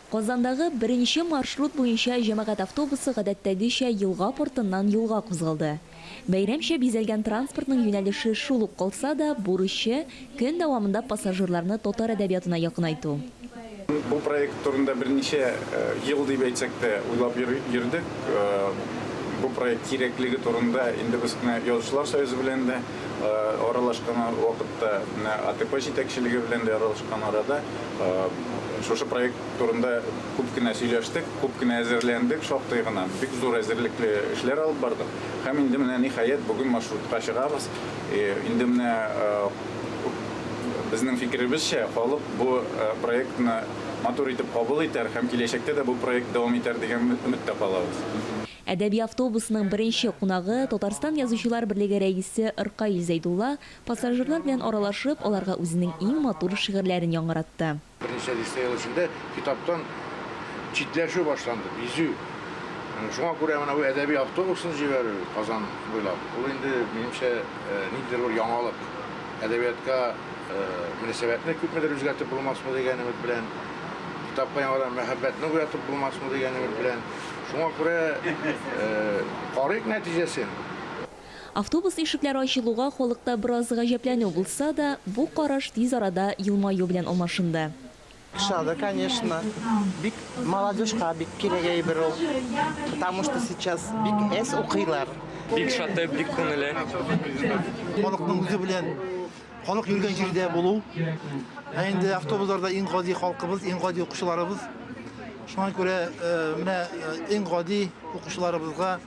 Казандагы беренче маршрут буенча җәмәгать автобусы гадәттәгечә елга портыннан юлга кузгалды. Бәйрәмчә бизәлгән транспортның юнәлеше шул ук калса да, бурычы, көн дәвамында пассажирларны татар әдәбиятына якынайту. Бу проект турында берничә ел дип әйтсәк тә уйлап йөрдек. Бу проект кирәклеге турында инде без менә Язучылар союзы белән дә, аралашкан вакытта, менә АТП җитәкчелеге белән дә аралашкан арада шушы проект турында күп кенә сөйләштек, күп кенә әзерләндек, шактый гына, бик зур әзерлекле эшләр алып бардык. Һәм инде менә, ниһаять, бүген маршрутка чыгабыз. Инде менә безнең фикеребезчә, халык бу проектны матур итеп кабул итәр һәм киләчәктә дә бу проект дәвам итәр дигән өметтә калабыз. Әдәби автобусның беренче кунагы, Татарстан Язучылар берлеге рәисе Ркаил Зәйдулла, пассажирлар белән аралашып, аларга үзенең иң матур шигырьләрен яңгыратты. Берничә дистә ел эчендә китаптан читләшү башланды, бизү. Шуңа күрә менә бу әдәби автобусын җибәрү Казан буйлап, ул инде, минемчә, ниндидер бер яңалык. Әдәбиятка мөнәсәбәтне күпмедер үзгәртеп булмасмы дигән өмет белән, китапка яңадан мәхәббәтне уятып булмасмы дигән өмет белән. Шуңа күрә карыйк нәтиҗәсен. Автобус ишекләре ачылуга халыкта бераз гаҗәпләнү булса да, бу караш тиз арада елмаю белән алмашынды. Ошады, конечно. Бик молодежька бик кирәк әйбер ул. Потому что сейчас бик әз укыйлар. Бик шаты, бик күңеле. Халыкның үзе белән. Халык йөргән җирдә булу. Ә инде автобусларда иң гади халкыбыз, иң гади укучыларыбыз. Шуңа күрә менә иң гади укучыларыбызга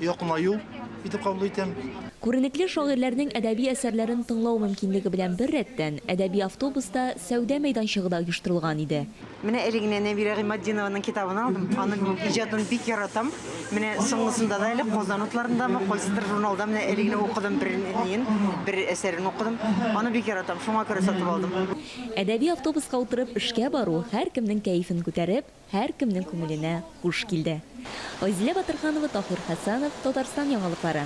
якынаю итеп кабул итәм. Күренекле шагыйрьләрнең әдәби әсәрләрен тыңлау мөмкинлеге белән беррәттән, әдәби автобуста сәүдә мәйданчыгы да оештырылган иде. Менә әле генә Нәбирә Гыйматдинованың китабын алдым. Аның иҗатын бик яратам. Менә соңгысында да әле Казан утларындамы, кайсыдыр журналда менә әле генә укыдым бернин, бер әсәрен укыдым. Аны бик яратам, шуңа күрә сатып алдым. Әдәби автобуска утырып эшкә бару һәркемнең кәефен күтәреп, һәркемнең күңеленә хуш килде. Айзилә Батырханова, Таһир Хәсәнов, Татарстан яңалыклары.